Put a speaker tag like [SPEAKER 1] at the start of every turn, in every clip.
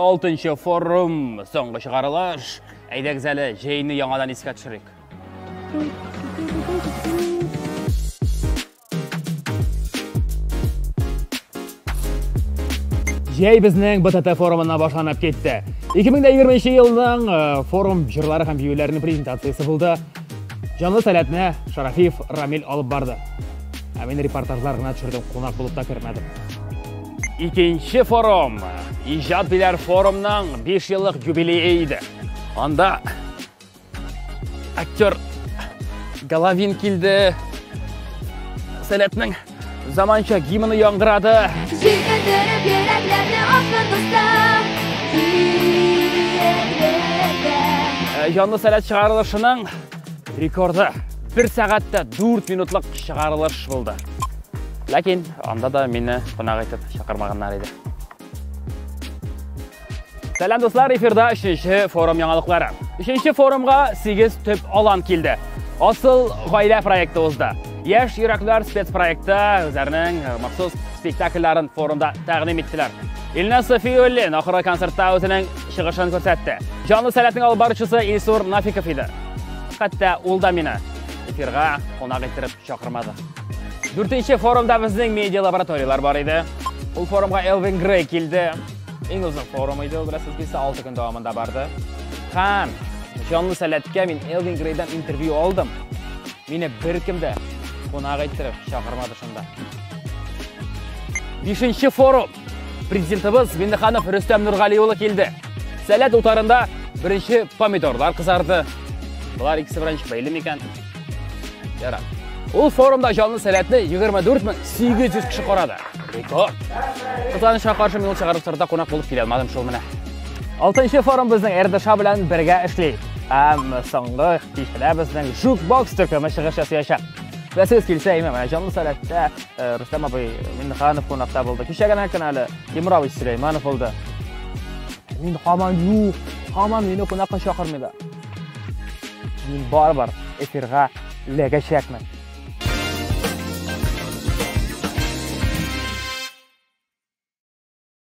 [SPEAKER 1] Алтынчы форум, соңгы чыгарылыш. Әйдәгез әле, җәйне яңадан искә төшерик. Җәй безнең БТТ форумына башланып китте. 2020 елның э, форум җырлары һәм биюләренең презентациясе булды. Җанлы сәләтне Шарафиев Рамил алып барды. Ә мин репортажлар гына төшердем, кунак булып та кермәдем. Икенче форум, иҗат биләр форумның 5 еллык юбилее иде. Анда Актер Головин килде. Сәләтнең заманча гимны яңгырады. Җиргә төреп
[SPEAKER 2] йөрәкләрне асмын дустым.
[SPEAKER 1] Ә, Җанлы сәләт чыгарылышының рекорды 1 сәгатьтә 4 минутлык чыгарылыш булды. Ләкин анда да мине кунак итеп чакырмаганнар иде. Сәлам дуслар, эфирда 3-нче форум яңалыклары. 3-нче форумга 8 төп алан килде. Асыл гаилә проекты узды. Яшь йөрәкләр спецпроекты үзләренең э, махсус спектакльләрен форумда тәкъдим иттеләр. Илна Софиуллин ахыры концертта үзенең чыгышын күрсәтте. Җанлы сәләтнең алып баручысы Илсур Нафиков иде. Хәтта ул да мине эфирга кунак иттереп чакырмады. Дүртенче форумда безнең медиа лабораторияләр бар иде. Ул форумга Элвин Грей килде. Иң озын форум иде, ул бераз килсә 6 көн дәвамында барды. Һәм җанлы сәләткә мин Элвин Грейдан интервью алдым. Мине беркем дә кунак иттереп чакырмады шунда. Бишенче форум. Президентыбыз Миннеханов Рөстәм Нургали улы килде. Сәләт утарында беренче помидорлар кызарды. Булар икесе белән бәйле микән? Ярар. Ул форумда җанлы сәләтне 24800 кеше карады. Рекорд. Кызганычка каршы мин ул чыгарышларда кунак булып килә алмадым шул менә. Алтынчы форум безнең РДШ белән бергә эшли. Һәм соңгы кичәдә безнең Жукбокс төркеме чыгыш ясаячак. Вәсез килсә, имә менә җанлы сәләттә Рөстәм абый Миннеханов кунакта булды. Кичә генә көн әле Тимур абый Сөләйманов булды. Мин хаман юк, хаман мине кунакка чакырмыйлар. Мин барыбер эфирга эләгәчәкмен.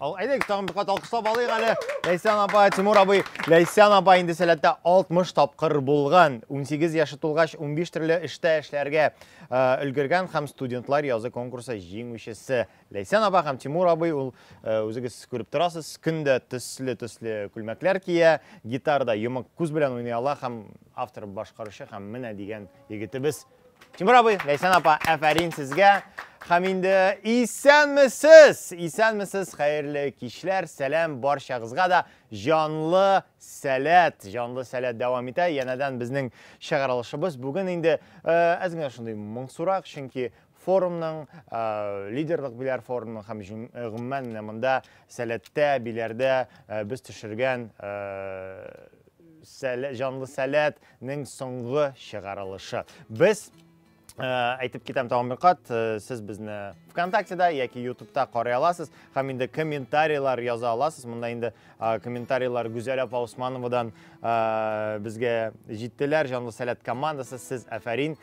[SPEAKER 3] Ал, әйдәгез, тагын бер кат алкышлап алыйк әле. Ләйсән апа, Тимур абый. Ләйсән апа инде сәләттә 60 тапкыр булган. 18 яше тулгач, 15 төрле эштә эшләргә өлгергән һәм студентлар язы конкурсы җиңүчесе. Ләйсән апа һәм Тимур абый ул үзегез күреп торасыз, көндә төсле-төсле күлмәкләр кия, гитарда йомык күз белән уйный ала һәм автор башкаручы һәм менә дигән егетебез Тимур абый, Ләйсән апа, әфәрин сезгә. Һәм инде исәнмесез! Исәнмесез, хәерле кичләр, сәлам барчагызга да җанлы сәләт, җанлы сәләт дәвам итә. Янәдән безнең чыгарылышыбыз бүген инде әз генә шундый моңсурак, чөнки форумның, лидерлык биләр форумның һәм гомумән менә монда сәләттә, биләрдә без төшергән җанлы сәләт, Нең соңгы чыгарылышы. Без Э, әйтеп китәм тагын бер кат э, сез безне вконтактеда яки ютубта карый аласыз һәм инде комментарийлар яза аласыз монда инде э, комментарийлар гүзәл апа усмановадан безгә җиттеләр җанлы сәләт командасы сез әфәрин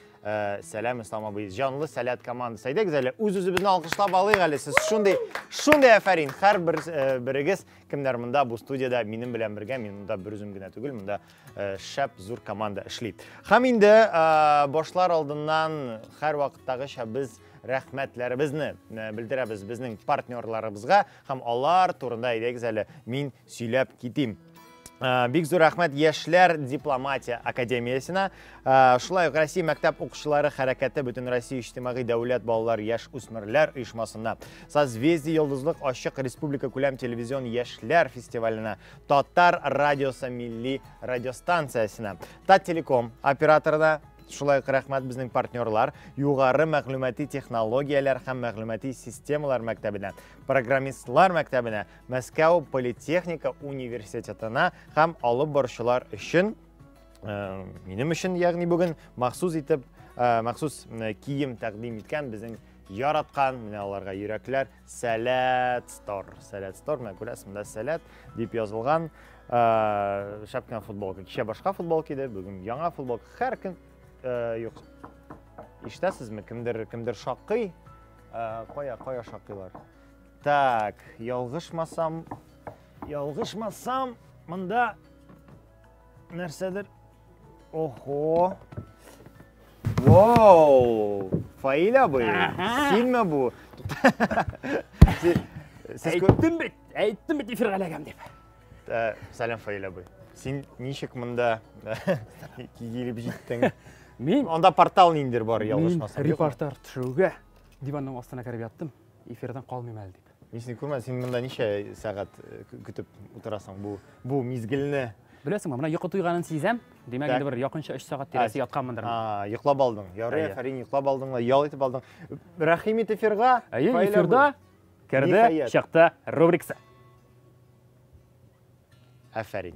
[SPEAKER 3] сәлам ислам абый җанлы сәләт командасы әйдәгез әле үз үзебезне алкышлап алыйк әле сез шундый шундый әфәрин һәр бер берегез кемнәр монда бу студияда минем белән бергә мин монда бер үзем генә түгел монда Э, шәп зур команда эшли һәм инде э, башлар алдыннан һәрвакыттагыча без рәхмәтләребезне э, белдерәбез безнең партнерларыбызга һәм алар турында әйдәгез әле мин сөйләп китим бик зур рәхмәт яшьләр дипломатия академиясенә шулай ук россия мәктәп укучылары хәрәкәте бөтенроссия иҗтимагый дәүләт балалар яшь үсмерләр оешмасына созвездие йолдызлык ачык республика күләм телевизион яшьләр фестиваленә Татар радиосы милли радиостанциясенә, Таттелеком операторына шулай ук рәхмәт безнең партнерлар югары мәгълүмати технологияләр һәм мәгълүмати системалар мәктәбенә программистлар мәктәбенә мәскәү политехника университетына һәм алып баручылар өчен э, минем өчен ягъни бүген махсус итеп э, махсус э, кием тәкъдим иткән безнең яраткан менә аларга йөрәкләр Сәләт Стор. Сәләт Стор, менә күрәсез, монда Сәләт дип язылган. Ә, шәп кенә футболка. Кичә башка футболка иде, бүген яңа футболка. Һәр көн ә, юк. Ишетәсезме? Кемдер кемдер шакый. Ә, кая, кая шакыйлар? Так, ялгышмасам, ялгышмасам, монда нәрсәдер Ого! Вау! Фаиль абый, синме бу?
[SPEAKER 1] Әйттем бит, әйттем бит эфирга эләгәм дип. Э, сәлам
[SPEAKER 3] Фаиль абый. Син ничек монда килеп җиттең? Мин анда
[SPEAKER 1] портал ниндер
[SPEAKER 3] бар, ялгышмасам. Мин репортаж төшерүгә
[SPEAKER 1] диванның астына кереп яттым, эфирдан калмыйм әле дип. Мин сине күрмәдем, син монда
[SPEAKER 3] ничә сәгать көтеп утырасың бу бу мизгелне? Беләсеңме, менә йокы
[SPEAKER 1] туйганын сизәм. Димәк, инде бер якынча 3 сәгать тирәсе ятканмындыр. А, йоклап алдың.
[SPEAKER 3] Ярый, Фәрин, йоклап алдың, ял итеп алдың. Рәхим ит эфирга. Әйе, эфирда
[SPEAKER 1] керде, чыкты рубрикасы.
[SPEAKER 3] Афәрин.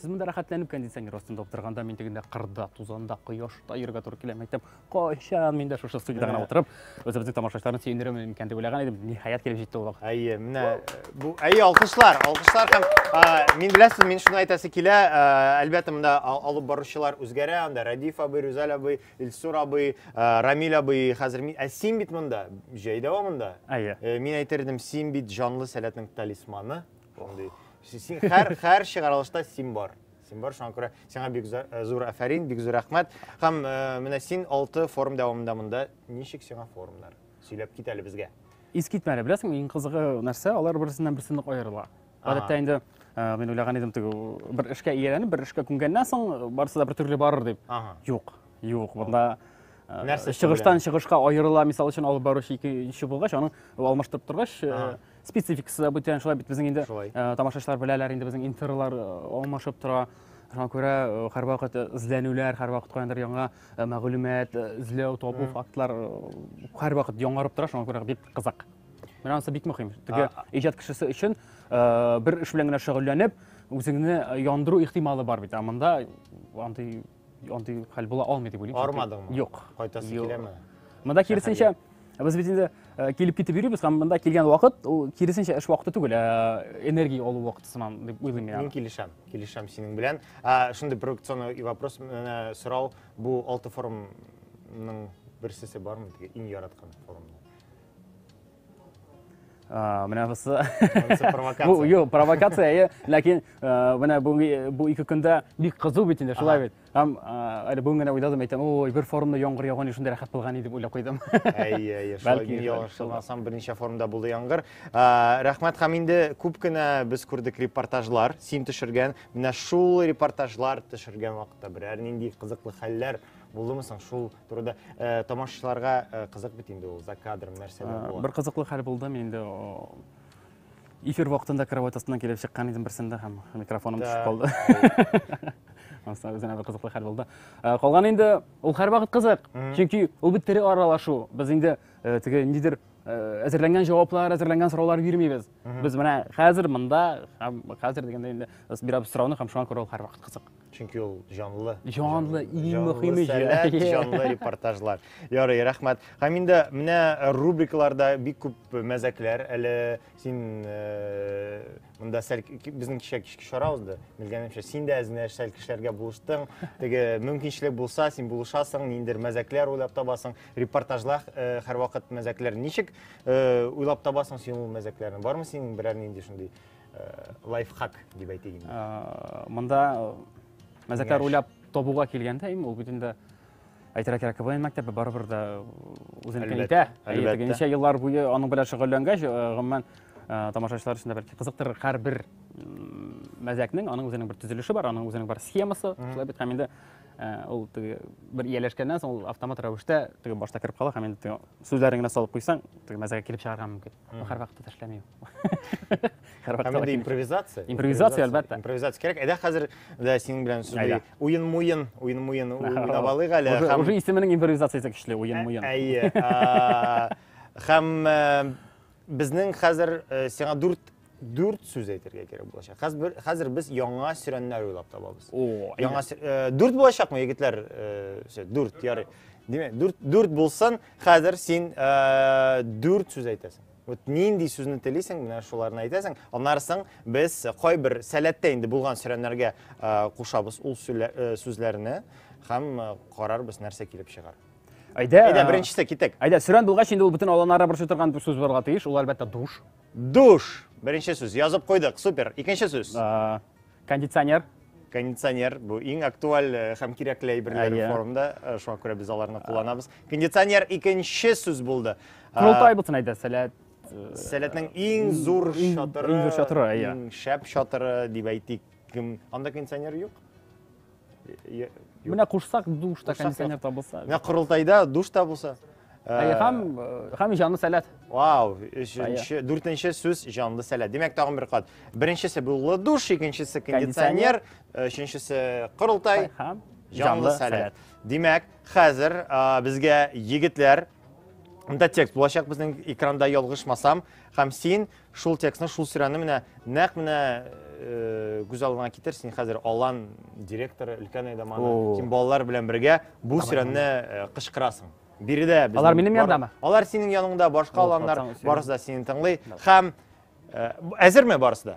[SPEAKER 1] Сез монда рәхәтләнеп кондиционер астында утырганда, мин тегендә кырда, тузанда, кояшта йөрергә туры килә. Мәктәп кайчан мин дә шушы студияда гына утырып, үзебезнең тамашачыларны сөендерермен микән дип уйлаган идем. Ниһаять килеп җитте ул вакыт. Әйе, менә
[SPEAKER 3] бу әйе, алкышлар, алкышлар һәм мин беләсез, мин шуны әйтәсе килә, әлбәттә монда алып баручылар үзгәрә, анда Радиф абый, Рүзәл абый, Илсур абый, Рамил абый, хәзер мин, ә син бит монда, җәй дәвамында. Әйе. Мин әйтердем, син бит җанлы сәләтнең талисманы. Шундый. Син һәр һәр чыгарылышта син бар. Син бар, шуңа күрә сиңа бик э, зур афәрин, бик зур рәхмәт. Һәм э, менә син 6 форум дәвамында монда ничек сиңа форумнар? Сөйләп кит әле безгә. Ис китмәле, беләсең,
[SPEAKER 1] иң кызыгы нәрсә, алар берсеннән берсе нык аерыла. Гадәттә инде э, мин уйлаган идем теге бер эшкә ияләнеп, бер эшкә күнгәннән соң барысы да бер төрле барыр дип. Юк, юк, монда нәрсә чыгыштан чыгышка аерыла мисал өчен алып баручы икенче булгач аның алмаштырып торгач спецификасы бүтән шулай бит безнең инде шулай. Э, тамашачылар беләләр инде безнең интерлар э, алмашып тора шуңа күрә э, һәрвакыт эзләнүләр һәрвакыт каяндыр яңа мәгълүмат эзләү табу фактлар һәрвакыт яңарып тора шуңа күрә бик кызык менә анысы бик мөһим теге иҗат кешесе өчен бер эш белән генә шөгыльләнеп үзеңне яндыру ихтималы бар бит ә монда андый Андый хәл була алмый дип уйлыйм. Армадыңмы? Юк. Кайтасы
[SPEAKER 3] киләме? Монда киресенчә
[SPEAKER 1] без бит инде э, килеп китеп йөрибез һәм монда килгән вакыт ул киресенчә эш вакыты түгел, э, энергия алу вакыты сыман дип уйлыйм мин. Мин килешәм, килешәм
[SPEAKER 3] синең белән. Ә шундый провокационный вопрос, менә сорау, бу алты форумның берсесе бармы? Иң яраткан форумның?
[SPEAKER 1] менә бусы
[SPEAKER 3] бу юк провокация
[SPEAKER 1] ләкин менә бүгенге бу ике көндә бик кызу бит инде шулай бит һәм әле бүген генә уйладым әйтәм ой бер форумда яңгыр яуган еш шундый рәхәт булган дип уйлап куйдым әйе бәлки
[SPEAKER 3] ялгышылмасам берничә форумда булды яңгыр рәхмәт һәм инде күп кенә без күрдек репортажлар син төшергән менә шул репортажлар төшергән вакытта берәр нинди кызыклы хәлләр булдымы соң шул турыда э, тамашачыларга э, кызык бит инде ул за кадром нәрсәләр була. Бер кызыклы хәл булды, мин инде
[SPEAKER 1] эфир вакытында кровать астыннан килеп чыккан идем берсендә һәм микрофоным төшеп калды. Анысы үзенә бер кызыклы хәл булды. Э, калган инде ул һәрвакыт кызык. Чөнки ул бит тере аралашу. Без инде э, теге нидер э, әзерләнгән җаваплар, әзерләнгән сораулар бирмибез. Без менә хәзер монда һәм хәзер дигәндә инде бирәбез сорауны һәм шуңа күрә ул һәрвакыт кызык. Чөнки ул җанлы.
[SPEAKER 3] Җанлы, иң
[SPEAKER 1] мөһиме сәләт, җанлы
[SPEAKER 3] репортажлар. Ярый, рәхмәт. Һәм инде менә рубрикларда бик күп мәзәкләр. Әле син э, монда сәл безнең кичә кичке чара узды. Белгәнемчә, син дә әзенә сәл кешеләргә булыштың. Теге мөмкинчелек булса, син булышасың, ниндер мәзәкләр уйлап табасың. Репортажлар э, һәрвакыт мәзәкләр. Ничек э, уйлап табасың син ул мәзәкләрне? Бармы синең берәр нинди шундый лайфхак дип әйтик инде монда
[SPEAKER 1] мәзәкләр уйлап табуга килгәндә им ул бит инде әйтергә кирәк квн мәктәбе барыбер да үзенекен итә әлбәттә ничә еллар буе аның белән шөгыльләнгәч гомумән тамашачылар өчен дә бәлки кызыктырыр һәрбер мәзәкнең аның үзенең бер төзелеше бар аның үзенең бар схемасы шулай бит һәм инде ул теге бер ияләшкәннән соң ул автомат рәвештә теге башта кереп кала һәм инде теге сүзләрен генә салып куйсаң теге мәзәккә килеп чыгарга мөмкин Ну, һәр вакытта тешләмим. Һәр
[SPEAKER 3] вакытта. Һәм импровизация. Импровизация, әлбәттә.
[SPEAKER 1] Импровизация кирәк. Әйдә хәзер
[SPEAKER 3] дә синең белән сүзли. Уен муен, уен муен уйнап алыйк әле. Уже исеменең импровизациясе
[SPEAKER 1] көчле, уен муен. Әйе.
[SPEAKER 3] Һәм безнең хәзер сиңа дүрт дүрт сүз әйтергә кирәк булачак. Хәзер хәзер без яңа сөрәннәр уйлап табабыз. О, яңа дүрт булачакмы, егетләр? Дүрт, ярый. Димәк, дүрт дүрт булсын. Хәзер син э, дүрт сүз әйтәсең. Вот нинди сүзне телисең, менә шуларны әйтәсең. Аннарсың без кайбер сәләттә инде булган сөйләмнәргә э, кушабыз ул э, сүзләрне һәм карарбыз нәрсә килеп чыгар. Әйдә, әйдә беренчесе китек. Әйдә, сөрән булгач инде ул
[SPEAKER 1] бөтен аланара борчып торган сүз булырга тиеш. Ул әлбәттә душ. Душ.
[SPEAKER 3] Беренче сүз язып куйдык. Супер. Икенче сүз. Кондиционер.
[SPEAKER 1] Кондиционер
[SPEAKER 3] бу иң актуаль э, һәм кирәкле әйберләр Әйе. форумда, э, шуңа күрә без аларны кулланабыз. Кондиционер икенче сүз булды. А, Корылтай булсын әйдә,
[SPEAKER 1] сәләт. э, Сәләтнең
[SPEAKER 3] иң зур Иң- чатыры, иң зур чатыры, әйе. иң шәп чатыры дип әйтик. Кем- Анда кондиционер юк? Менә
[SPEAKER 1] кушсак душ та кондиционер та булса. Менә корылтайда
[SPEAKER 3] душ та булса. Ә һәм
[SPEAKER 1] һәм җанлы сәләт. Вау,
[SPEAKER 3] өченче, дүртенче сүз җанлы сәләт. Димәк, тагын бер кат. Беренчесе буллы душ, икенчесе кондиционер, өченчесе корылтай һәм җанлы сәләт. Димәк, хәзер безгә егетләр Монда текст булачак безнең экранда ялгышмасам. Һәм син Шул текстны, шул серианы менә нәкъ менә күз алдыңа китер, син хәзер Алан директоры, өлкән әйдаманы, син балалар белән бергә бу серианны кычкырасың. Биредә без Алар минем янымдамы? Алар
[SPEAKER 1] синең яныңда,
[SPEAKER 3] башка аланнар барысы да сине тыңлый һәм әзерме барысы да?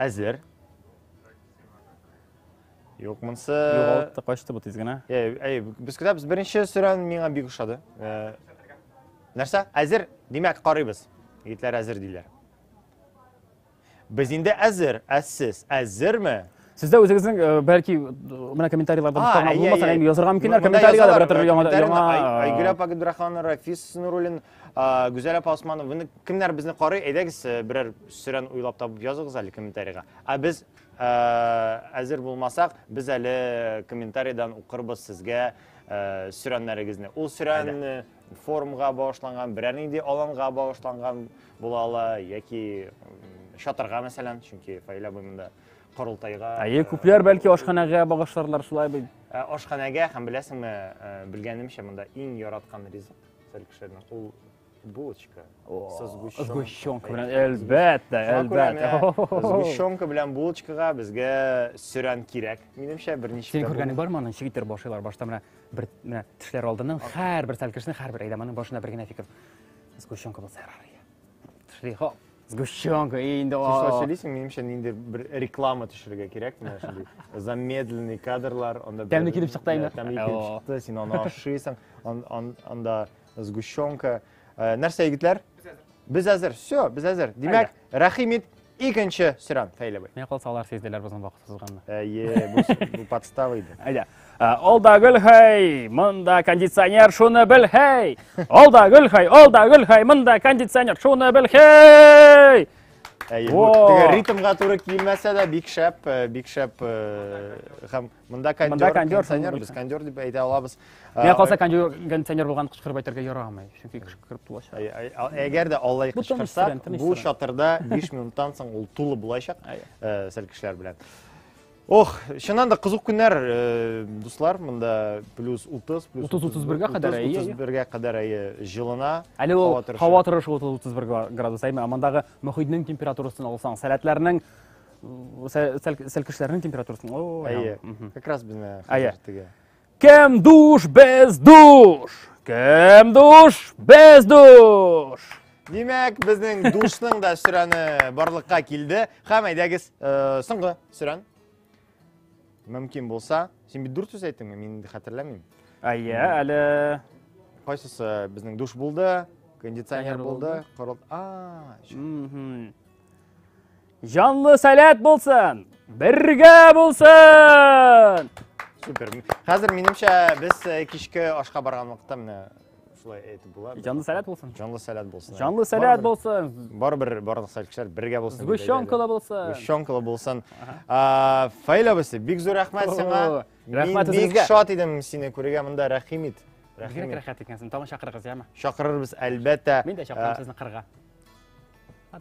[SPEAKER 3] Әзер. Юк, монсы... Югалтты, качты бу тиз
[SPEAKER 1] генә. Әй, әй, без көтәбез.
[SPEAKER 3] Беренче сүрән миңа бик ошады. Э, нәрсә? Әзер? Димәк, карыйбыз. Егетләр әзер диләр. Без инде әзер, ә сез әзерме? Сез дә үзегезнең,
[SPEAKER 1] э, бәлки, менә комментарийларда А, мөхтәрәм әйе, булмаса, әйе. әйе, язырга мөмкиннәр, Монда комментарийларда язалар, берәтер яңа комментарийны яңа Ай- Айгөл апа
[SPEAKER 3] Габдрахманова, Рафис Нуруллин, а, Гүзәл апа Османова. Ны- Кемнәр безне карый? Әйдәгез, э, берәр сүрән уйлап табып языгыз әле комментарийга. Ә без э, әзер булмасак, без әле комментарийдан укырбыз сезгә э, сүрәннәрегезне. Ул сүрән э, форумга багышланган, берәр нинди аланга багышланган була ала яки м, чатырга мәсәлән, чөнки Фаилә буй монда корылтайга әйе күпләр бәлки
[SPEAKER 1] ашханәгә багышларлар шулай бит ә, ашханәгә һәм
[SPEAKER 3] беләсеңме ә, белгәнемчә монда иң яраткан ризык сәл кешеләрнең ул булочка со
[SPEAKER 1] сгущенкой белән әлбәттә әлбәттә сгущенка
[SPEAKER 3] белән булочкага безгә сөрән кирәк минемчә берничә син күргәнең бармы аны ничек
[SPEAKER 1] иттереп башлыйлар башта менә бер менә тешләр алдыннан һәрбер сәл кешенең һәрбер әйдәманың башына бер генә фикер сгущенка булса ярар тешли хоп Сгущенка, и инде... Син шулай сөйлисең, минемчә
[SPEAKER 3] нинди бер реклама төшерергә кирәк, менә шундый замедленный кадрлар, анда тәмле килеп чыкты инде. Тәмле
[SPEAKER 1] килеп чыкты, син
[SPEAKER 3] аны ашыйсың, анда сгущенка. Э, нәрсә егетләр? Без әзер. Все, без әзер. Димәк, Рәхимит икенче сөрән, Фәйләбай. Менә калса алар сизделәр
[SPEAKER 1] безнең вакытсызганны. Әйе, бу
[SPEAKER 3] подстава иде. Әйдә. Ә, ол
[SPEAKER 1] да гөл хай, мында кондиционер, шуны бел хай. Ол да гөл хай, ол да гөл хай, мында кондиционер, шуны бел хай. Әйе, бу
[SPEAKER 3] теге ритмга туры килмәсә дә бик шәп, э, бик шәп э, һәм мында кондер, кондиционер, без кондер дип әйтә алабыз. Миңа калса кондер,
[SPEAKER 1] кондиционер булган кычкырып әйтергә ярамый, чөнки кычкырып тулачак. Әгәр дә
[SPEAKER 3] Аллай кычкырса, бу чатырда 5 минуттан соң ул тулы булачак, э, сәл кешеләр белән. Ох, чыннан да кызык көннәр, э, дуслар, монда плюс 30, плюс 30-31 га кадәр, әйе, 31 га кадәр әйе җылына. Әле ул һава
[SPEAKER 1] торышы 30-31 градус, әйме, амандагы мөхитнең температурасын алсаң, сәләтләрнең сәлкешләрнең температурасын, о, әйе. Как
[SPEAKER 3] раз безне хәзер Кем
[SPEAKER 1] душ, без душ! Кем душ, без душ! Димәк,
[SPEAKER 3] безнең душның да сөрәне барлыкка килде. Хәм әйдәгез, э, соңгы сөрән. Мөмкин булса, син бит дүрт сүз әйттеңме? Мин инде хәтерләмим. Әйе, әле Кайсысы безнең душ булды, кондиционер Кондиционер булды, булды. корыл. А, чү. Мгм.
[SPEAKER 1] Җанлы сәләт булсын! Бергә булсын! Супер.
[SPEAKER 3] Хәзер минемчә без э, кичке ашка барган вакытта менә шулай әйтеп була. Җанлы сәләт булсын. Җанлы
[SPEAKER 1] сәләт булсын. Җанлы
[SPEAKER 3] сәләт булсын.
[SPEAKER 1] Барыбер барлык
[SPEAKER 3] сәләткәчләр бергә булсын. Гущонкалы булсын.
[SPEAKER 1] Гущонкалы булсын.
[SPEAKER 3] Фаил абысы, бик зур рәхмәт сиңа. Рәхмәт үзегезгә. Бик
[SPEAKER 1] шат идем
[SPEAKER 3] сине күрергә монда. Рәхим ит. Бигрәк рәхәт
[SPEAKER 1] икәнсең. Тагын чакырыгыз, яме? Чакырырбыз, әлбәттә.
[SPEAKER 3] Мин дә чакырам сезне кырга.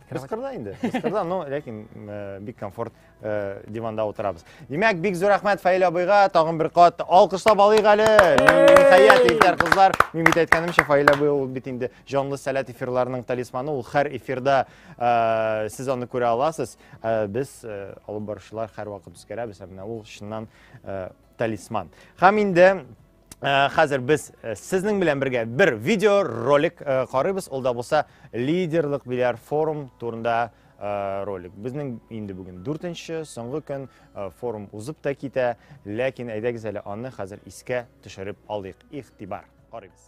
[SPEAKER 3] Кыскырда инде. Кыскырда, но ләкин э, бик комфорт э, диванда утырабыз. Димәк, бик зур рәхмәт Фаил абыйга, тагын бер кат алкышлап алыйк әле. Хәят егетләр, кызлар, мин бит әйткәнемчә, Фаил абый ул бит инде җанлы сәләт эфирларының талисманы, ул һәр эфирда э, сез аны күрә аласыз. Без алып баручылар һәрвакыт үзгәрәбез, ә менә ул чыннан талисман. Һәм инде Э, хәзер без э, сезнең белән бергә бер видео ролик э, карыйбыз ул да булса лидерлык бильярд форум турында ролик безнең инде бүген дүртенче соңгы көн форум узып та китә ләкин әйдәгез әле аны хәзер искә төшереп алыйк игътибар карыйбыз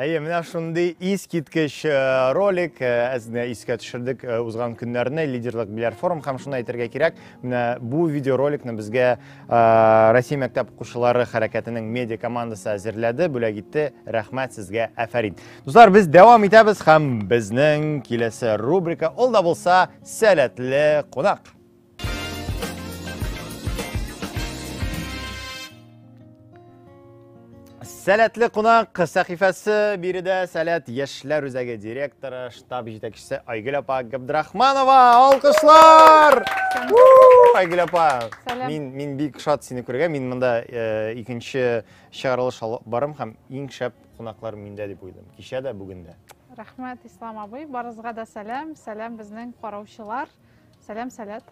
[SPEAKER 3] Әйе, менә шундый искиткеч э, ролик э, әзне искә төшердек э, узган көннәрне лидерлык биләр форум һәм шуны әйтергә кирәк, менә бу видеороликны безгә Россия мәктәп укучылары хәрәкәтенең медиа командасы әзерләде, бүләк итте. Рәхмәт сезгә, әфәрин. Дуслар, без дәвам итәбез һәм безнең киләсе рубрика ул да булса сәләтле кунак. Сәләтле кунак сәхифәсе биредә сәләт яшьләр үзәге директоры, штаб җитәкчесе Айгөл апа Габдрахманова. Алкышлар! Айгөл апа, мин, мин бик шат сине күргә. Мин монда э, икенче чыгарылыш алып барым һәм иң шәп кунаклар миндә дип уйладым. Кичә дә, бүген дә. Рәхмәт, Ислам
[SPEAKER 4] абый. Барызга да сәлам. Сәлам безнең караучылар. Сәлам, сәләт.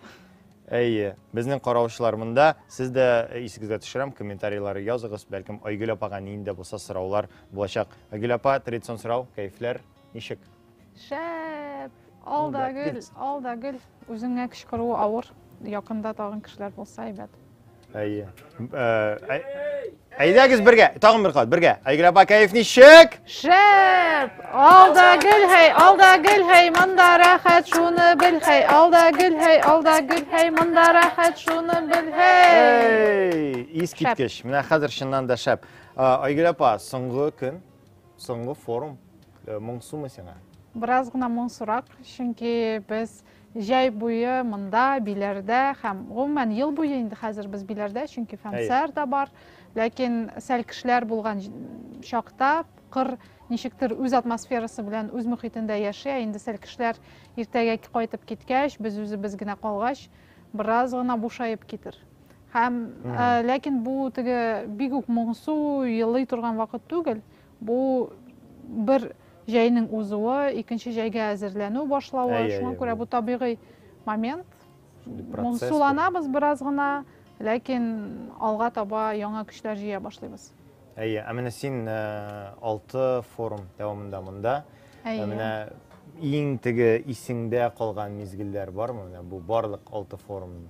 [SPEAKER 4] Әйе,
[SPEAKER 3] безнең караучылар монда. Сез дә э, исегезгә төшерәм, комментарийлар языгыз. Бәлкем Айгөл апага нинди дә булса сораулар булачак. Айгөл апа, традицион сорау, кәефләр ничек? Шәп!
[SPEAKER 4] Алда гөл, алда гөл. Үзеңә кычкыруы авыр. Якында тагын кешеләр булса әйбәт. Әйе.
[SPEAKER 3] Әйдәгез бергә, тагын бер кат, бергә. Айгөл апа, кәеф ничек? Шәп!
[SPEAKER 4] Алда гел һәй, алда гел һәй, монда рәхәт, шуны бел һәй. Алда гел һәй, алда гел һәй, монда рәхәт, шуны бел һәй. Ис киткеч.
[SPEAKER 3] Менә хәзер чыннан да шәп. Айгөл апа, соңгы көн, соңгы форум. Э, Моңсумы сиңа? Бераз гына
[SPEAKER 4] моңсурак, чөнки без Җәй буе монда, Биләрдә һәм, гомумән, ел буе инде хәзер без Биләрдә, чөнки фәнсәр дә бар. Ләкин сәл кешеләр булган чакта кыр ничектер үз атмосферасы белән үз мөхитендә яши, ә инде сәл кешеләр иртәгә кайтып киткәч, без үзебез генә калгач, бераз гына бушаеп китер. Һәм, ләкин бу теге бик үк моңсу, елый торган вакыт түгел. Бу бер җәйнең узуы, икенче җәйгә әзерләнү башлавы, әй, шуңа күрә бу табигый момент. Моңсуланабыз бераз гына, ләкин алга таба яңа көчләр җыя башлыйбыз. Әйе, ә менә
[SPEAKER 3] син э, алты форум дәвамында монда. Э, әйе. Менә иң теге исеңдә калган мизгелләр бармы? Менә бу барлык алты форумның.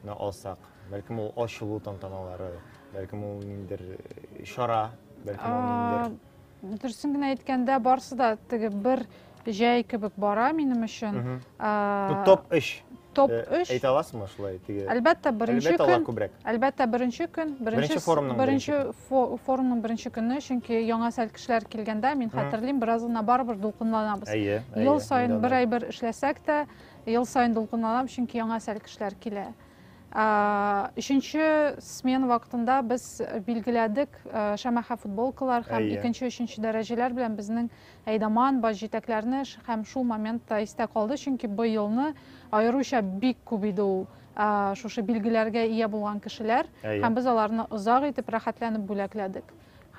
[SPEAKER 3] на алсак, бәлкем ул ачылу тантаналары, бәлкем ул ниндер э, чара, бәлкем ул ниндер дөресен генә
[SPEAKER 4] әйткәндә барысы да теге бер җәй кебек бара минем өчен топ
[SPEAKER 3] өч топ э, өч әйтә
[SPEAKER 4] аласызмы шулай теге
[SPEAKER 3] әлбәттә беренче көн
[SPEAKER 4] әлбәттә беренче
[SPEAKER 3] көн беренче
[SPEAKER 4] форумның беренче форумның беренче көне чөнки яңа сәл кешеләр килгәндә мин хәтерлим бераз гына барыбер дулкынланабыз ел сайын бер ай бер эшләсәк тә Ел саен дулкынланам, чөнки яңа әсәр кешеләр килә. Өченче смен вакытында без билгеләдек шәмәхә футболкалар һәм икенче, өченче дәрәҗәләр белән безнең әйдаман баш җитәкләрне һәм шул моментта истә калды, чөнки бу елны аеруча бик күп иде ул шушы билгеләргә ия булган кешеләр һәм без аларны озак итеп рәхәтләнеп бүләкләдек.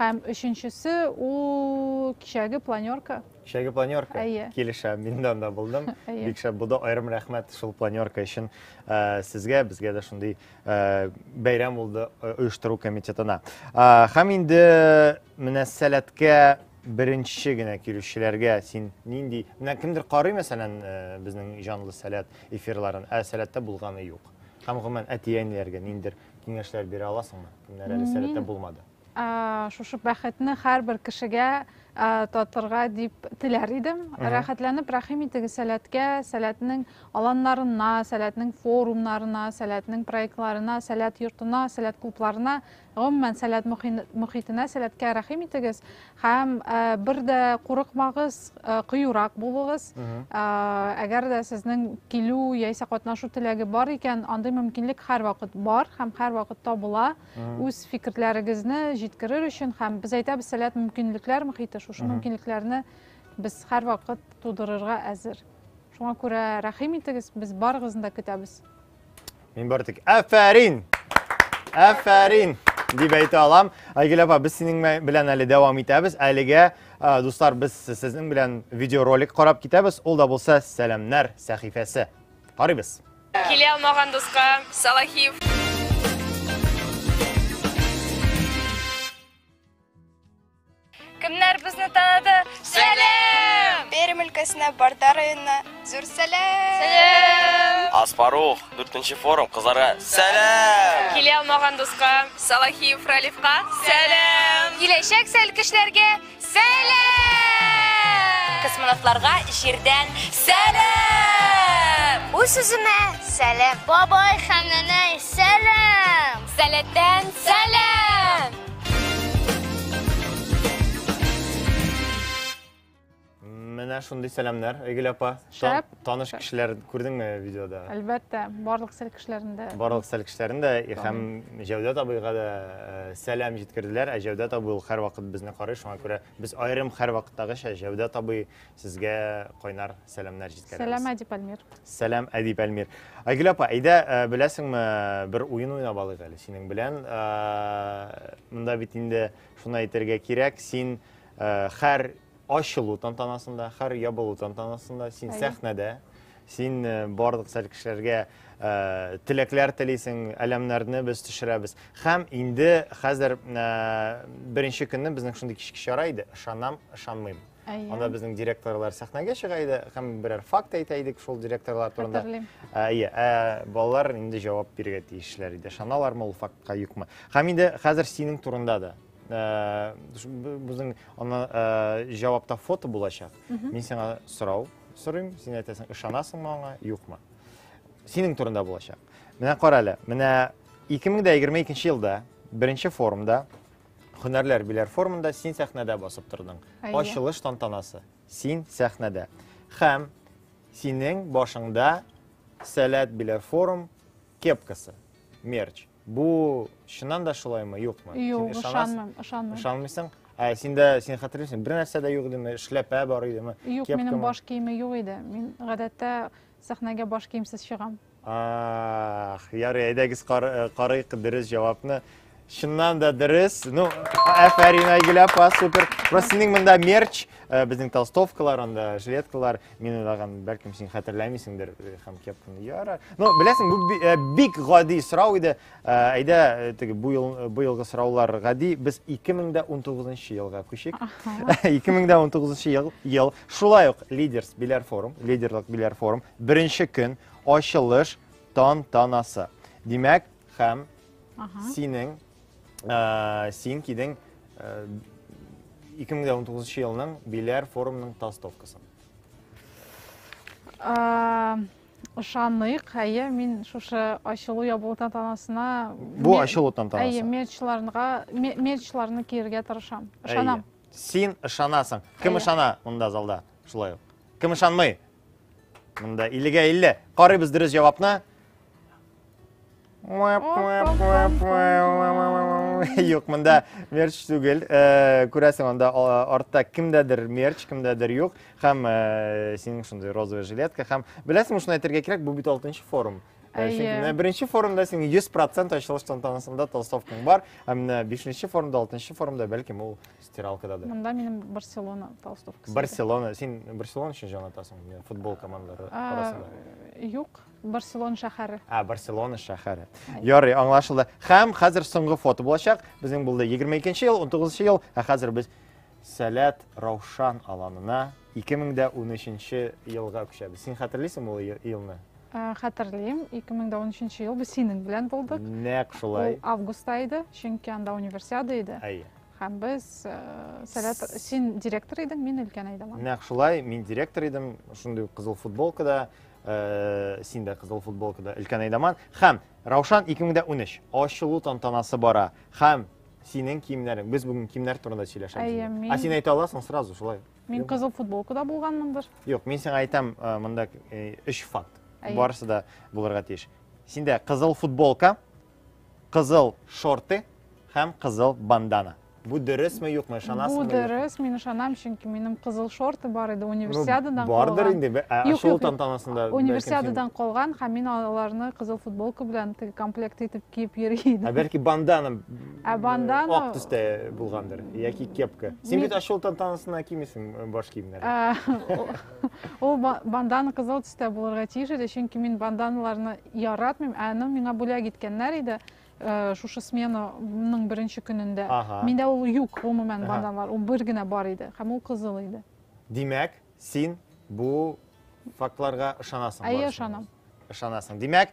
[SPEAKER 4] Һәм өченчесе ул кичәге планерка. Кичәге планерка?
[SPEAKER 3] Әйе. Килешә, мин дә анда булдым. Әйе. Бик шәп булды. Аерым рәхмәт шул планерка өчен э, сезгә, безгә дә шундый э, бәйрәм булды э, оештыру комитетына. Э, һәм инде менә сәләткә беренче генә килүчеләргә син нинди менә кемдер карый мәсәлән э, безнең җанлы сәләт эфирларын ә сәләттә булганы юк һәм гомумән әти әниләргә ниндер киңәшләр бирә аласыңмы? Кемнәр әле сәләттә булмады? Шушы
[SPEAKER 4] бәхетне һәрбер кешегә татырга дип теләр идем. Рәхәтләнеп рәхим итегез сәләткә, сәләтнең аланнарына, сәләтнең форумнарына, сәләтнең проектларына, сәләт йортына, сәләт клубларына, гомумән сәләт мөхитенә, сәләткә рәхим итегез. Һәм бер дә курыкмагыз, кыюрак булыгыз. Әгәр дә сезнең килү яисә катнашу теләге бар икән, андый мөмкинлек һәрвакыт бар һәм һәрвакыт табыла. Үз фикерләрегезне җиткерер өчен һәм без әйтәбез, сәләт мөмкинлекләр мөхите, шушы мөмкинлекләрне без һәрвакыт тудырырга әзер. Шуңа күрә рәхим итегез, без барыгызны да көтәбез. Мин бары
[SPEAKER 3] тик әфәрин! Әфәрин! дип әйтә алам. Айгөл апа, без синең белән әле дәвам итәбез. Әлегә, дуслар, без сезнең белән видеоролик карап китәбез. Ул да булса Сәламнәр сәхифәсе. Карыйбыз. Килә алмаган
[SPEAKER 5] дуска Салахиев. Кемнәр безне таныды? Сәлам! Пермь өлкәсенә
[SPEAKER 6] Барда районына зур сәлам! Сәлам!
[SPEAKER 5] Аспарух,
[SPEAKER 7] 4 форум кызларга сәлам!
[SPEAKER 5] Килә алмаган
[SPEAKER 7] дуска,
[SPEAKER 5] Салахиев Ралифка сәлам! Киләчәк сәлкешләргә сәлам! Космонавтларга җирдән сәлам! Үз сүземә
[SPEAKER 2] сәлам! Бабай һәм нәнәй сәлам! Сәләттән
[SPEAKER 5] сәлам!
[SPEAKER 3] Менә шундый сәламнәр, Айгөл апа. Шәп. Таныш
[SPEAKER 4] кешеләр
[SPEAKER 3] күрдеңме видеода? Әлбәттә, барлык
[SPEAKER 4] сәл кешеләрен дә. Барлык сәл кешеләрен дә
[SPEAKER 3] һәм Җәүдәт абыйга да э, сәлам җиткерделәр. Ә Җәүдәт абый ул һәрвакыт безне карый, шуңа күрә без аерым һәрвакыттагыча Җәүдәт абый Сезгә кайнар сәламнәр җиткерәбез. Сәлам, Әдип Әлмир.
[SPEAKER 4] Сәлам, Әдип
[SPEAKER 3] Әлмир. Айгөл апа, әйдә, э, беләсеңме, бер уен уйнап алыйк әле синең белән. Э, монда бит инде шуны әйтергә кирәк, син э, хәр ачылу тантанасында, хәр ябылу тантанасында, син сәхнәдә, син барлык сәл кешеләргә Э, теләкләр телисең, әләмнәрне без төшерәбез. Хәм инде хәзер э, беренче көнне безнең шундый кичке чара иде, ышанам, ышанмыйм. Әйе. Анда безнең директорлар сәхнәгә чыга иде һәм берәр факт әйтә идек шул директорлар турында. Хәтерлим. Әйе, ә балалар инде җавап бирергә тиешләр иде. Шаналармы ул фактка юкмы? Һәм инде хәзер синең турында да безнең аны җавапта фото булачак. Мин сиңа сорау сорыйм, син әйтәсең, ышанасыңмы аңа, юкмы? Синең турында булачак. Менә кара әле, менә 2022 елда беренче форумда Һөнәрләр биләр формында син сәхнәдә басып тордың. Ачылыш тантанасы. Син сәхнәдә. Хәм синең башыңда сәләт биләр форм кепкасы, мерч. Бу чыннан да шулаймы, юкмы? Юк, ышанмыйм,
[SPEAKER 4] ышанмыйм. Ышанмыйсың?
[SPEAKER 3] Ә синдә син хәтерлисең, бер нәрсә дә юк идеме? Эшләпә бар идеме? Юк, минем баш киеме
[SPEAKER 4] юк иде. Мин гадәттә сәхнәгә баш киемсез чыгам. Ах,
[SPEAKER 3] ярый, әйдәгез кар, э, карыйк дөрес җавапны. Чыннан да дөрес. Ну, әфәрин Айгөл апа, супер. Просто синең монда мерч, э, безнең толстовкалар, анда жилеткалар, мин уйлаган, бәлкем син хәтерләмисеңдер э, һәм кепканы яра. Ну, беләсең, бу би- э, бик гади сорау иде. Ә, Әйдә, э, теге бу ел бу елгы сораулар гади. Без 2019 елга күчик. 2019 ел, ел шулай ук лидерс биләр форум, лидерлык биләр форум, беренче көн ачылыш тантанасы. Димәк, һәм Ага. синең ә, син кидең ә, 2019 елның биләр форумның толстовкасын. А,
[SPEAKER 4] Ышаныйк, әйе, мин шушы ачылу ябылу тантанасына Бу ме- ачылу
[SPEAKER 3] тантанасы. Әйе, мерчларга ме-
[SPEAKER 4] мерчларны киергә тырышам. Ышанам. Әйе. Син
[SPEAKER 3] ышанасың. Кем Әйе. ышана монда залда? Шулай ук. Кем ышанмый? Монда 50-га 50. Карыйбыз дөрес җавапны. Юк, монда мерч түгел. Э, күрәсең, анда артта кемдәдер мерч, кемдәдер юк. Һәм э, синең шундый розовый жилетка. Һәм беләсең, шуны әйтергә кирәк, бу бит 6 форум. Э, Әйе. Беренче форумда син 100% ачылыш тантанасында толстовкаң бар, ә менә 5 форумда, 6 форумда бәлкем ул стиралкададыр. Монда минем
[SPEAKER 4] Барселона толстовкасы. Барселона, син
[SPEAKER 3] Барселона өчен җан атасың, футбол командалары арасында. Юк,
[SPEAKER 4] Барселон шәһәре. А, Барселона шәһәре.
[SPEAKER 3] Ярый, аңлашылды. Хәм, хәзер соңгы фото булачак. Безнең булды 22 ел, 19 ел, ә хәзер без Сәләт Раушан аланына 2013 елга күчәбез. Син хәтерлисең ул елны? Ә, хәтерлим,
[SPEAKER 4] 2013 ел без синең белән булдык. Нәк шулай. Ул
[SPEAKER 3] августта иде,
[SPEAKER 4] чөнки анда универсиада иде. Әйе. Хәм без э, Сәләт, син директор идең, мин өлкән идем. Нәк шулай, мин
[SPEAKER 3] директор идем, шундый кызыл футболкада. Э, син дә кызыл футболкада өлкән айдаман һәм раушан 2013 ачылу тантанасы бара һәм синең киемнәрең без бүгін киемнәр турында сөйләшәбез а син әйтә аласың сразу шулай мин кызыл футболкада
[SPEAKER 4] булганмындыр юк мин сиңа айтам
[SPEAKER 3] э, мында өч э, факт барысы да булырга тиеш синдә кызыл футболка Кызыл шорты һәм кызыл бандана. Бу дөресме, юкмы, ышанасыңмы? Бу дөрес, мин ышанам,
[SPEAKER 4] чөнки минем кызыл шорты бар иде, универсиададан ну, калган. Бардыр инде, ачылу
[SPEAKER 3] тантанасында. Универсиададан калган,
[SPEAKER 4] һәм мин аларны кызыл футболка белән теге комплект итеп киеп йөри идем. Ә бәлки бандана,
[SPEAKER 3] ә бандана...
[SPEAKER 4] ак төстә
[SPEAKER 3] булгандыр, яки кепка. Син бит ачылу тантанасына кимисең баш киемнәр.
[SPEAKER 4] Ул бандана кызыл төстә булырга тиеш иде, чөнки мин банданаларны яратмыйм, ә аны миңа бүләк иткәннәр иде э, шушы сменаның беренче көнендә. Ага. Миндә ул юк, гомумән, банданалар. Ул бер генә бар иде, һәм ул кызыл иде. Димәк,
[SPEAKER 3] син бу фактларга ышанасың? Әйе, ышанам.
[SPEAKER 4] Ышанасың. Димәк,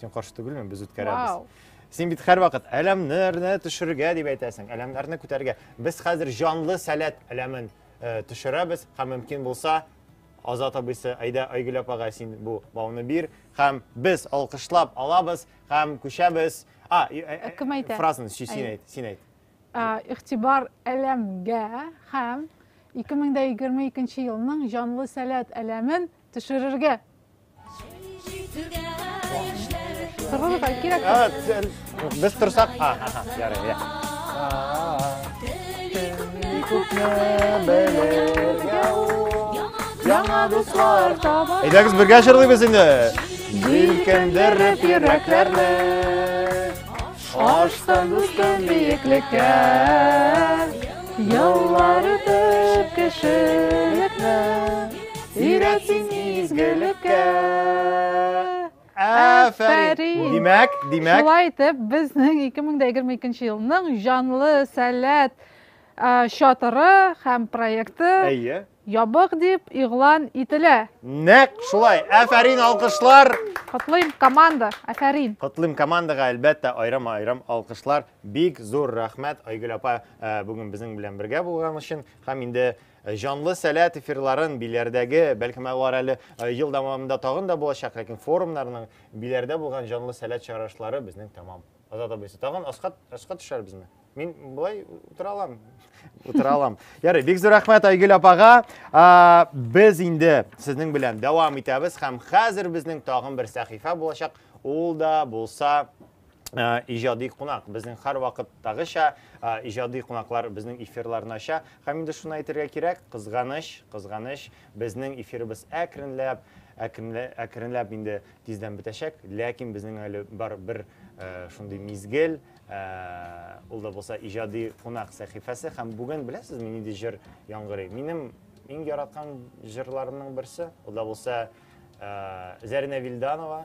[SPEAKER 3] Син каршы түгелме? Без үткәрәбез. Син бит һәрвакыт әләмнәрне төшергә дип әйтәсең, әләмнәрне күтәргә. Без хәзер җанлы сәләт әләмен э, төшерәбез һәм мөмкин булса Азат абыйсы, әйдә Айгөл апага син бу бауны бир һәм без алкышлап алабыз һәм күчәбез. А, э, э, э, кем әйтә? Фразаны син әйт, син әйт. Игътибар
[SPEAKER 4] әләмгә һәм 2022 елның җанлы сәләт әләмен Төшерергә. Торыгызга кирәк. А, сен- Без торсак,
[SPEAKER 3] а, аха, ярый, я. Күпне
[SPEAKER 4] белергә ул, яңа дуслар таба. Әйдәгез бергә җырлыйбыз
[SPEAKER 3] инде. Җилкендереп йөрәкләрне.
[SPEAKER 4] Аштан үскән биеклеккә. Еллар үтеп кешелекне. Өйрәтсен изгелеккә.
[SPEAKER 3] Афәрин! Димәк, димәк. Шулай итеп,
[SPEAKER 4] безнең 2022 елның җанлы сәләт чатыры һәм проекты Әйе. Ябык дип игълан ителә. Нәк шулай.
[SPEAKER 3] Афәрин, алкышлар. Котлыйм
[SPEAKER 4] команда. Афәрин. Котлыйм командага
[SPEAKER 3] әлбәттә айрам-айрам алкышлар. Бик зур рәхмәт Айгөл апа э, бүген безнең белән бергә булган өчен һәм инде Э, җанлы сәләт эфирларын биләрдәге, бәлкем алар әле э, ел дәвамында тагын да булачак, ләкин форумнарның биләрдә булган җанлы сәләт чарышлары безнең тәмам. Азат абыйсы, тагын аска, аска төшәрбезме? Мин болай утыра алам. Утыра алам. Ярый, бик зур рәхмәт Айгөл апага. А, без инде сезнең белән дәвам итәбез һәм хәзер безнең тагын бер сәхифә булачак. Ул да булса Э, ижади кунак безнең һәр вакыттагыча э, ижади кунаклар безнең эфирларны ача һәм инде шуны әйтергә кирәк кызганыч кызганыч безнең эфирыбыз әкренләп әкренләп инде тиздән бетәчәк ләкин безнең әле бар бер э, шундый мизгел ул да булса ижади кунак сәхифәсе һәм бүген беләсезме нинди җыр яңгырый минем иң яраткан җырларымның берсе ул да булса зарина вильданова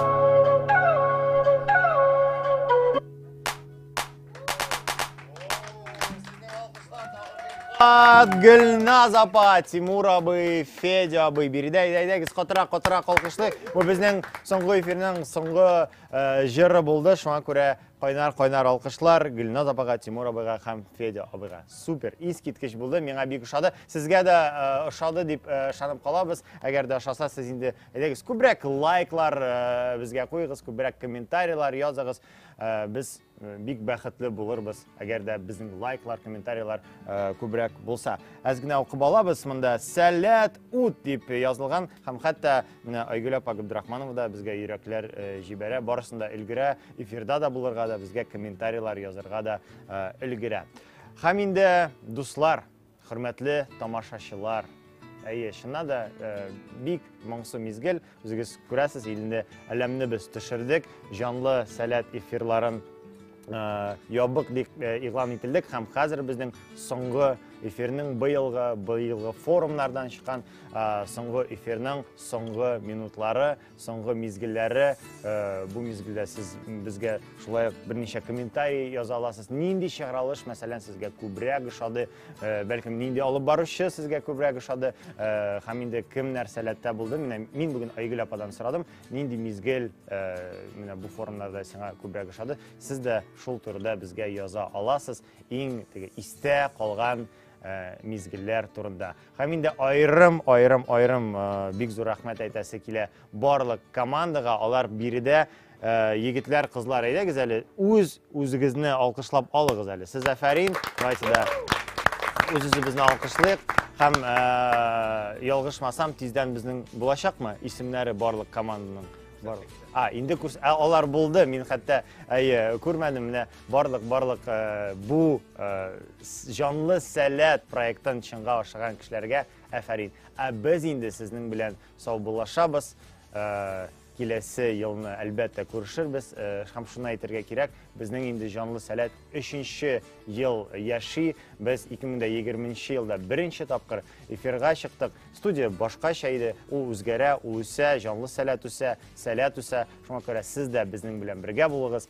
[SPEAKER 3] Гөлназ апа, Тимур абый, Федя абый, биредә әйдәгез катырак, катырак алкышлыйк. Бу безнең соңгы эфирның соңгы э, җыры булды. Шуңа күрә кайнар кайнар алкышлар Гөлназ апага, Тимур абыйга һәм Федя абыйга. Супер, искиткеч булды. Миңа бик ошады. Сезгә дә э, ошады дип э, ышанып калабыз. Әгәр дә ошаса, сез инде Әйдәгез, күбрәк лайклар э, безгә куйыгыз, күбрәк комментарийлар языгыз. Э, без э, бик бәхетле булырбыз, әгәр дә безнең лайклар, комментарийлар күбрәк булса. Әз генә укып алабыз монда Сәләт ут дип язылган һәм хәтта менә Айгөл апа Габдрахманова да безгә йөрәкләр җибәрә, барысын да өлгерә, эфирда да булырга да, безгә комментарийлар язырга да өлгерә. Һәм инде дуслар, Хөрмәтле тамашачылар! Әйе, чыннан да бик моңсу мизгел. Үзегез күрәсез, инде әләмне без төшердек. Җанлы сәләт эфирларын ябык дип игълан ителдек һәм хәзер безнең соңгы эфирның быелгы быелгы форумнардан чыккан соңгы эфирның соңгы минутлары Соңгы мизгелләре, э, бу мизгелдә сез безгә шулай ук берничә комментарий яза аласыз. Нинди чыгарылыш, мәсәлән, сезгә күбрәк ошады, э, бәлкем нинди алып баручы сезгә күбрәк ошады, э, һәм инде кем нәрсәләттә булды? Менә мин бүген Айгөл ападан сорадым, нинди мизгел менә бу форумнарда сиңа күбрәк ошады? Сез дә шул турыда безгә яза аласыз. Иң теге истә калган Э, мизгелләр турында һәм инде айрым айрым айрым э, бик зур рәхмәт әйтәсе килә барлык командага алар биредә э, егетләр кызлар әйдәгез әле үз үзегезне алкышлап алыгыз әле сез әфәрин давайте да үз үзебезне алкышлыйк һәм ялгышмасам тиздән безнең булачакмы исемнәре барлык команданың барлык а инде күрс алар булды мин хәтта әйе күрмәдем менә Барлык барлык э, бу э, җанлы сәләт проектын чынга ашырган кешеләргә әфәрин. Ә без инде сезнең белән саубуллашабыз. Э, киләсе елны әлбәттә күрешербез. Һәм шуны әйтергә кирәк, безнең инде җанлы сәләт 3нче ел яши. Без 2020 елда беренче тапкыр эфирга чыктык. Студия башкача иде. Ул үзгәрә, ул үсә, җанлы сәләт үсә, сәләт үсә. Шуңа күрә сез дә безнең белән бергә булыгыз.